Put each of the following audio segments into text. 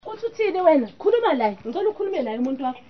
Uthi uthini wena? Khuluma la. Ngicela ukhulume naye umuntu wakho.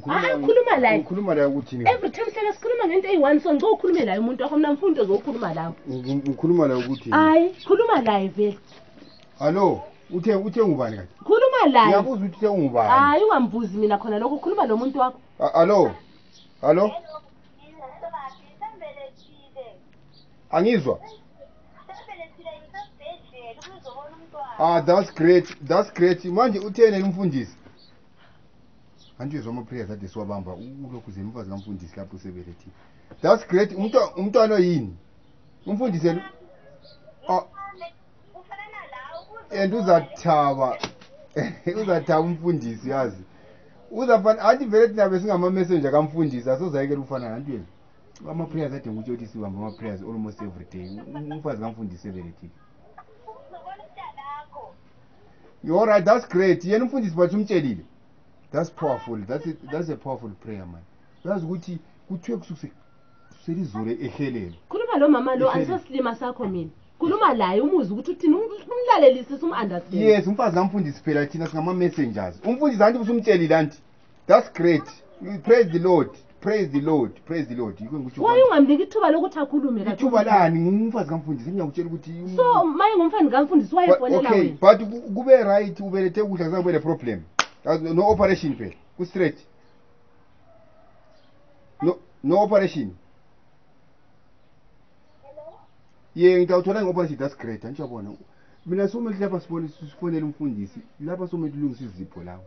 Hayi ukhuluma la. Ukhuluma la ukuthi ni. Every time sele sikhuluma ngento eyi-1 so ngicela ukhulume la umuntu wakho mina mfundo zokhuluma la. Ngikhuluma la ukuthi. Hayi khuluma la vele. Hallo. Uthe uthe ngubani kanti? Khuluma la. Ngiyabuza ukuthi uthe ngubani. Hayi ungambuzi mina khona lokho ukhuluma lo muntu wakho. Hallo. Hallo. Angizwa. ah that's great that's great manje uthene umfundisi andizwa amaprayers ade siwabamba ulokhu zemfazi kamfundisi lapho seberethi that's great umntwana yini umfundisi and ah. uzathaba uzathaba umfundisi yazi uzafana anti vele thina besingama-messenger kamfundisi asozayekela ukufana nantweni amaprayers ade ngikutshelisiwa ngamaprayers almost every day umfazi kamfundisi ebeletile you're right that's great yena umfundisi bathi umtshelile that's powerful that's a, that's a powerful prayer man uyazi ukuthi kuthiwe kusukuse selizolo ehelelo khuluma lo mama lo andisosilima sakho mina khuluma laye umuzi ukuthi uthini umlalelisisa um-, um-, um-understand yes umfazi kamfundisi phela thina singama-messengers umfundisi anti busumtshelile anti that's great praise the lord praise the lord praise the lord wayungamniki ithuba lokuthi akhulume ithuba lani ngumfazi kamfundisi ngiyakutshela ukuthi so maye ngumfani kamfundisi wayefonela okay but kube right ubelethe ukudla kuzabe le problem no operation phela ku straight no no operation ye ngitawuthola nge-operation that's great antsho yabona mina somethi lapha sibone sifonele umfundisi lapha somethi ulungisa izipho lawo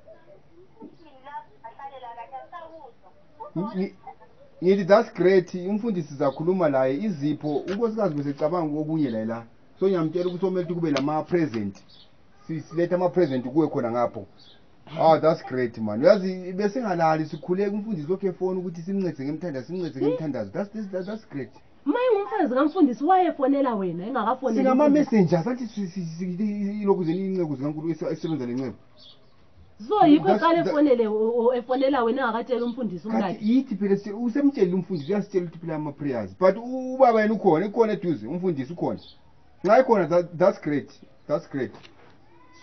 ngithi that's great umfundisi sizakhuluma laye izipho unkosikazi besecabanga kokunye laye la so ngiyamtshela ukuthi omele ukuthi kube nama-present silethe ama-present kuwe khona ngapho oh that's great man uyazi besingalali sikhuleka umfundisi lokhu efona ukuthi simncede ngemthandazo simncede ngemthandazo that's, that's, that's great uma ingumfazi kamfundisi wayefonela wena engakafonela singama-messenger sathi lokhu zeni inceku zikankulu esebenza le nceku so yikho That's- eqale that- efonele o- o- efonela wena engakatsheli umfundisi kati umkakhe yithi phela se- usemtshelile umfundisi uyasitshela ukuthi phela ama-prayers but u- ubaba yena ukhona ikhona eduze umfundisi ukhona nxa ikhona that- that's great that's great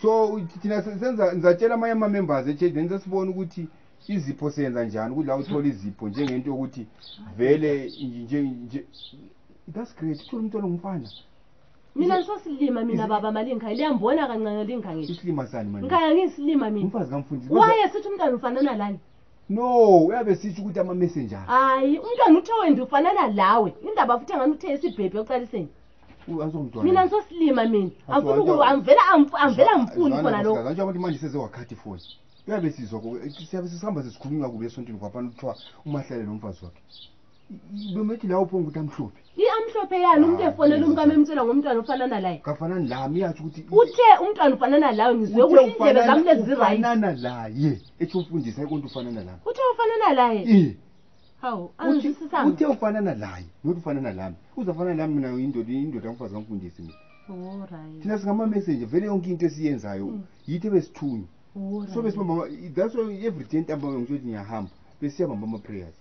so u- thina se- senza ngizatshela amanye ama-members echurch then sesibona ukuthi izipho senza njani ukuthi la uthole izipho njengento yokuthi vele nje- nje- nje- that's great uthole umntwana ngumfana mina ngisosilima mina baba mali ngikhaya liyambona kancane lingikhangile isilima sani manje ngikhaya ngiyisilima mina umfazi kamfundisi waye sithi umntwana ufanana lani no uyabe sitsho ukuthi ama-messenger hayi umntwana uthe wende ufanana lawe indaba futhi angani uthe isibhebhi oqaliseni mina ngisosilima mina angifuniangivela angifuni khona lokoantsho abantu manje seze wakhathi foni uyabe sizwa siyabe sisihamba sesikhulunywa kubi esontweni kwapana kuthiwa umahlale nomfazi wakhe lomethi la uphonga ukuthi amhlophe i amhlophe yani umntu efonela umkami emtshela ngomntwana ofana nalaye kafanani lami yatsho ukuthi uthe umntwana ufana nalawe ngizwe ukuthi indlebe zami lezizirayitfanana laye ethi umfundisa ikonto ufana nalami uthe ufana nalaye hawu angizwisisanga uthe ufana nalaye not ufana nalami uzafana nalami mina indoda indoda kamfazi kamfundisi mina oh, thina singamamessenger vele yonke into esiyenzayo mm. yithi ebesithunywa oh, so besibamba that's why every day ntambama ngisho ukuthi ngiyahamba besiyabamba ama-prayers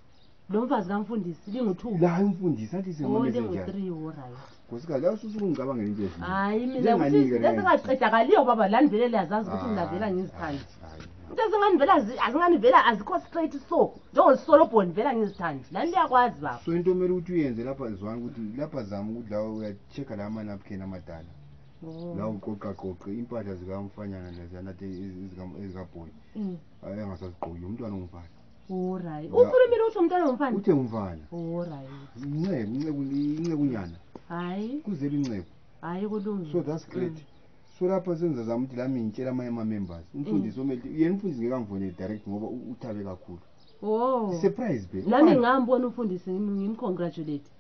lomfazi kamfundisi lingu-two la imfundisi athi o lingu-three orayo nkosikazi awususukungicabangela into ezinye hayi mina Njenganike le. sesingaqedakaliyo baba lani vele liyazazi ukuthi mina vela ngizithanda into ezingani vela zi- azingani vela azikho straight so njengolisolobhoni vela ngizithanda lani liyakwazi baba so into omele ukuthi uyenze lapha zwana ukuthi lapha zama ukuthi la uyacheck la amanapkin amadala Oh. la uqoqaqoqe impahla zikamfanyana leziyana ezikabhoni Mm. engasazigqoki umntwana ongumfana horayi ukhulumile utsho mntwana womfana uthe umfana horayi inceku inceku incekunyana hayi kuzela inceku hayi kulungile so that's great mm. so lapha senza zama ukuthi lami ngitshela amanye ama-members umfundisi mm. omele yena umfundisi ngekamfonele direct ngoba uthabe kakhulu oh. surprise be lami ngambona umfundisi ngimcongratulate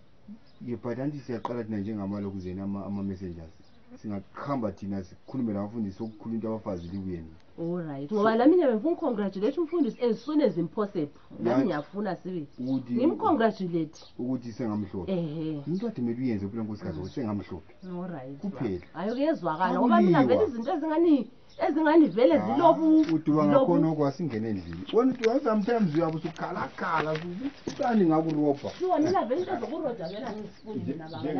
ye but anti siyaqala thina njengamalokuzeni ama-messengers singahamba thina sikhulume labafundisi okukhulu into abafazi liku yena Alright. Ngoba nami ngiyabe ngifuna umfundisi as soon as impossible. Nami ngiyafuna sibe. Ngimcongratulate. Ukuthi sengamhlophe. Ehe. Into ade mele uyenze kuphela nkosikazi ukuthi sengamhlophe. Alright. Kuphela. Hayi kuyezwakala ngoba mina vele izinto ezingani ezingani vele ah, zilobu. Uduba ngakhona okwasingena endlini. Wena uduba sometimes uyabe usukhalakhala ukuthi sani ngakurobha. Sure mina vele into zokurobha vele angifuni mina baba.